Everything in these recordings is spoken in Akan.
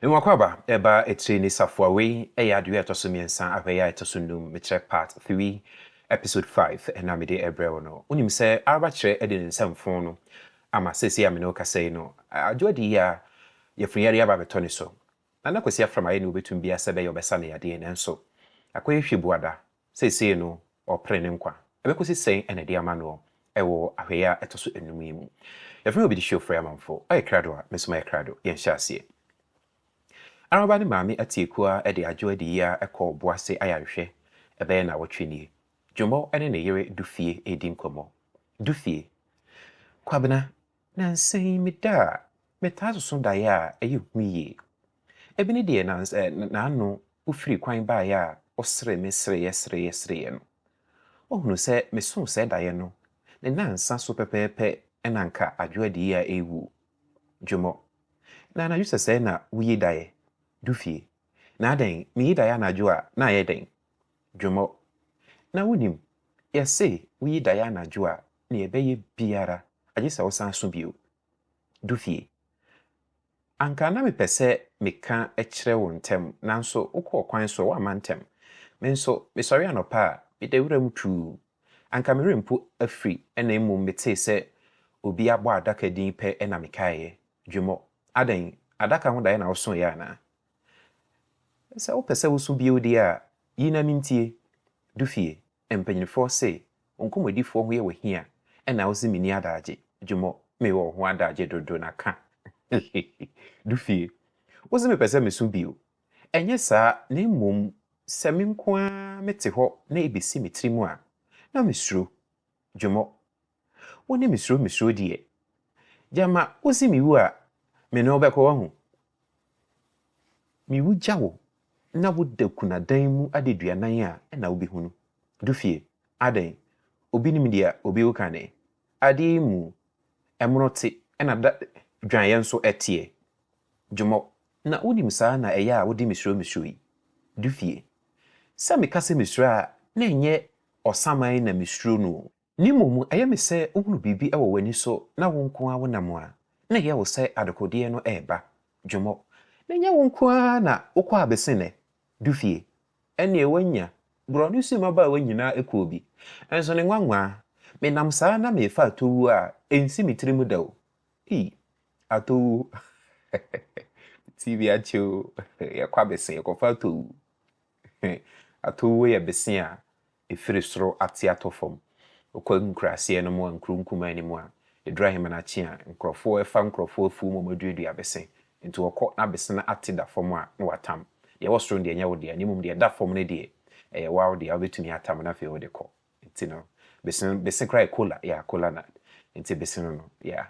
Nwakwaba, ɛba etire ne safoa wei ɛyɛ adeɛ ɛtɔ so mmiɛnsa ahwɛyɛ a ɛtɔ so nnum mekyerɛ part three episode five ɛna mede ɛbrɛ wo no wonim sɛ araba kyerɛ ɛde ne nsa mfon no ama seesei a mene wo kasa yi no adwo adi yie a yafunu yareɛ aba abɛtɔ ne so nana kwasi afram ayɛ nea ɔbɛtum biaa sɛ ɛbɛyɛ ɔbɛsa no yadeɛ nanso akɔyɛ hwɛ buada Seesei no, ɔrepere ne nkwa. Ɛbɛkɔsi sɛn na ɛde ama noɔ wɔ ahwɛeɛ a ɛtɔ so nnum yi mu? Yɛfrɛ me Obidi Hwio Frɛamanfo. Ɔyɛ krado a, me nso mayɛ krado. Yɛnhyɛ aseɛ. Araba ne Maame Atiekuo ara de adwo adi yi ara kɔɔ Boase ayarehwɛ ɛbɛyɛ nnawɔtwe nie. Dwomo ne ne yere Dufie redi nkɔmmɔ. Dufie! Kwabena, Nnansa yi meda a, metaa soso daeɛ a ɛyɛ hu yie. Ebi ne deɛ n'ano firi kwan baeɛ a ɔseree me sereeɛ sereeɛ sereeɛ no. Ɔhunuu sɛ mesoo saa daeɛ no, ne nnansa so pɛpɛɛpɛ na anka Adwo adii a ɛrewu. Dwomo, Na anadwo sɛsɛɛ na woyi daeɛ? Du fie, Na adɛn, meyi daeɛ anadwo a, na ayɛ dɛn? Dwomo, Na wonim, yɛse woyi daeɛ anadwo a, nea ɛbɛyɛ biara agye sɛ wosan so bio. Du fie. Anka na mepɛ sɛ meka kyerɛ wo ntɛm, nanso wokɔɔ kwan so a woamma ntɛm. Me nso, mesɔre anɔpa a, meda wuram tumm. Anka me werɛ mpo afiri na mmom metee sɛ obi abɔ adaka din pɛ na mekaeɛ, Dwemɔ. Adɛn, adaka ho daeɛ na wosõeɛ anaa? Sɛ wopɛ sɛ wosu bio deɛ a, yi na mentie, Dufie, mpanyinfoɔ se wo nkɔmmɔdifoɔ ho yɛ wo hia na wose menni adagye, Dwumɔ, mewɔ wo ho adagye dodo na ka hehe, Dufie, wose mepɛ sɛ mesu bio, ɛnyɛ saa na mmom sɛ me nko ara mete hɔ na ɛbɛsi me tiri mu a, na mesuro, Dwumɔ, Wo ne me suro me suro deɛ. Gyama wosi me wu a, me ne wo bɛkɔ wahu. Me wu gya wo na wo da kunadan mu adaduanan a ɛna wo bɛhunu. Du fie, adɛn, obi nim deɛ obi wo kane. Adeɛ yi mu, ɛmono te ɛna da dwaneɛ nso ɛteɛ. Gyomɔ, na wo nim saa na ɛyɛ a wo de me suro me suro yi. Du fie, sɛ me ka sɛ me suro a na ɛnyɛ ɔsaman na me suro no o. Ne mmom ɛyɛ me sɛ wohunu biribi wɔ w'ani so na wo nko ara wonam a, na ɛyɛ wo sɛ adekodeɛ no reba. Dwomo, na ɛnyɛ wo nko ara na wokɔ abesene, du fie. Ɛnneɛ woanya, borɔ ne sum abaawa nyinaa kuo bi. Nso ne nwanwaa, menam saa na merefa atowuo a ɛnsi me tiri mu da o. Ii, atowuo, me ti bi akye o, yɛkɔ abesene, yɛkɔfa atowuo. Atowuo yɛ besene a ɛfiri soro ate atɔ fam kɔ nkuraaseɛ no mu a nkuro nkumaa nni mu a, ɛduru ahemanakye a, nkurɔfoɔ ɛfa nkurɔfoɔ afuo mu a wɔaduadua abese, nti wɔkɔ na abese no ate da fam a, na wɔatam. Deɛ ɛwɔ soro no deɛ ɛnyɛ wo dea, na mmom deɛ ɛda fam no deɛ, ɛyɛ wo ara wo dea, wobɛtumi atam na afei wode kɔ. Nti no, bese no, bese koraa yɛ kola, yeah, kola nut, nti bese no no, yeah,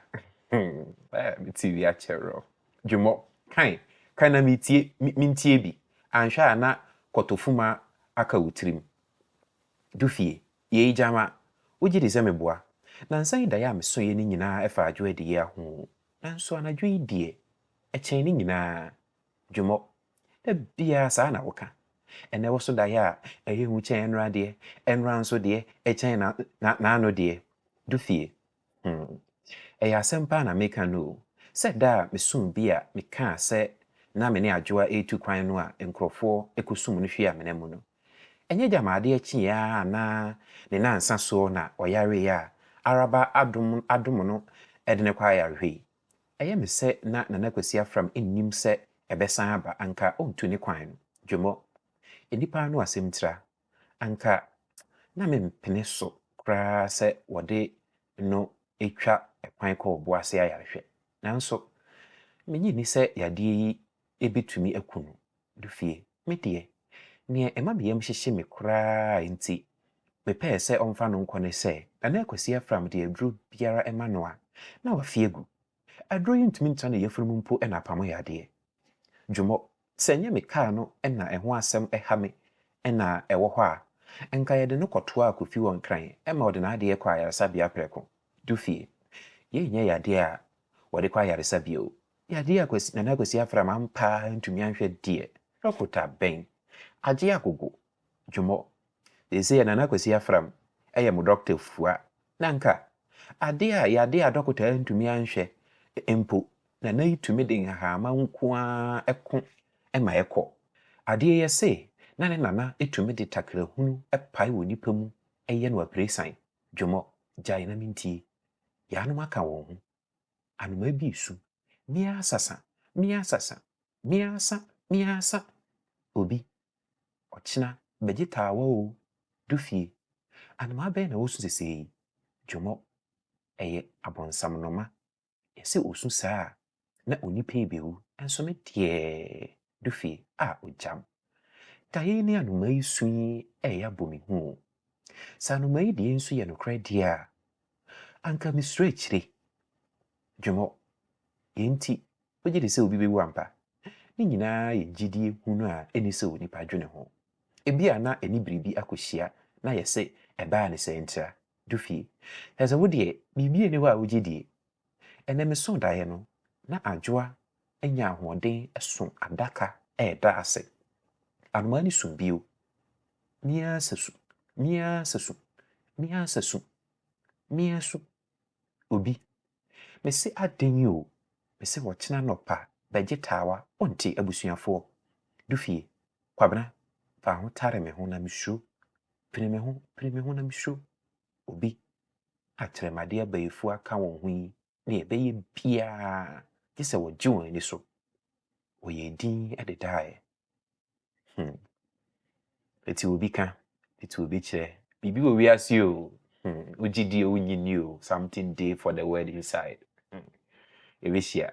hmm, eh, me TV akyɛre o. Dwemɔ, Kae, kae na metie, mentie bi, anhwɛ a na kɔtɔfuma aka wo tirim. Dufie, Yei Gyama, wogye di sɛ meboa? Nansa yi daeɛ a mesoeɛ no nyinaa ɛfa adwo adie aho, nanso anadwo yi deɛ ɛkyɛn ne nyinaa. Dwemɔ, Da biara saa na woka. Ɛnnɛ woso daeɛ a ɛyɛ hu kyɛn ɛnora deɛ, ɛnora nso deɛ ɛkyɛn n'ano deɛ. Dufie, Hmm. Ɛyɛ asɛm paa na meka no o. Sɛ da a mesoo bi a mekaa sɛ na me ne Adwoa retu kwan no a nkurɔfoɔ kɔsum no hwee amena mu no. Ɛnyɛ gyama adeɛ kyeeɛ ara anaa ne nnansa soɔ na ɔyareeɛ a Araba adom adom no de no kɔ ayarehwɛ yi. Ɛyɛ me sɛ na Nana Kwasi Afram nnim sɛ ɛbɛsan aba anka ɔntu ne kwan no. Dwomo. Nnipa ano asɛm tira. anka na mempene so koraa sɛ wɔde no twa kwan kɔ ɔbo ase ayarehwɛ. Nanso, minnye nni sɛ yadeɛ yi betumi aku no. Dufie, Me deɛ, nea ɛma me yam hyehye me koraa a enti mepɛe sɛ ɔmfa no nkɔ ne sɛ, na na Kwasi Afram de aduro biara ma no a, na wafi agu. Aduro yi ntumi ntra ne yafunu mu mpo na apamo yadeɛ. Dwomo, Sɛ ɛnyɛ me kaa no na ɛho asɛm ha me na ɛwɔ hɔ a, anka yɛde no kɔtoaa Kofi wɔ Nkran ma ɔde n'adeɛ kɔɔ ayaresabea prɛko. Du fie. Yei nyɛ yadeɛ a wɔde kɔ ayaresabea o. Yadeɛ a Kwasi, Nana Kwasi Afram ampa ara antumi anhwɛ deɛ. Dɔkota bɛn? Agye agogo. Dwomo, seesei a Nana Kwasi Afram yɛ mo dɔkota fua, na anka ade a yade a dɔkota antumi anhwɛ mpo, Nana yi tumi de nhahaama nko ara ko ma ɛkɔ. Adeɛ yi ɛse na ne Nana tumi de takrahunu pae wɔ nipa mu yɛ no apiresan. Dwomo, gyae na mentie. Yaanom aka wɔn ho. Anomaa bi resu. Meaasasa, meaasasa, meaasa, meaasa. Obi, Ɔkyena bɛgye taawa o, du fie. Anomaa bɛn na ɔresu sesei yi? Dwomo, Ɛyɛ abonsamnoma. Yɛse ɔsu saa a, na onipa yi bɛwu. Nso me deɛ, du fie. A ogyam. Da yei ne anomaa yi su yi reyɛ abɔ me hu o. Sɛ anomaa yi deɛ nsu yɛ nokorɛ deɛ a, anka mesuro akyire. Dwomo, Yei nti Wogye di sɛ obi bewu ampa? Ne nyinaa yɛ gyidie hunu a ɛnni sɛ onipa dwene ho. Ebia na ɛne biribi akɔhyia na ayɛ sɛ ɛbaa no saa ntira. Dufie, Kyerɛ sɛ wo deɛ biribi nni hɔ a wogye die. Ɛnnɛ mesoo daeɛ no, na Adwoa anya ahoɔden so adaka reda ase. Anomaa no suu bio. Meaa sɛ su. Meaa sɛ su. Meaa sɛ su. Meaa su. Obi, Mese aden yi o, mese wɔkyena anɔpa bɛgye taawa wonte abusuafoɔ, du fie, Kwabena, fa ho tare me ho na me suro, pini me ho, pini me ho na me suro, Obi, Akyerɛmade abayifoɔ aka wɔn ho yi deɛ ɛbɛyɛ biara gye sɛ wɔgye wɔn ani so, wɔyɛɛ din de daeɛ. Hmm. Ɛti obi ka, ɛti obi kyerɛ. Biribi wɔ wiase o. Hmm. Wogye di o, wonyi ni o. Something dey for the word inside. Hmm. Ɛbɛhyia.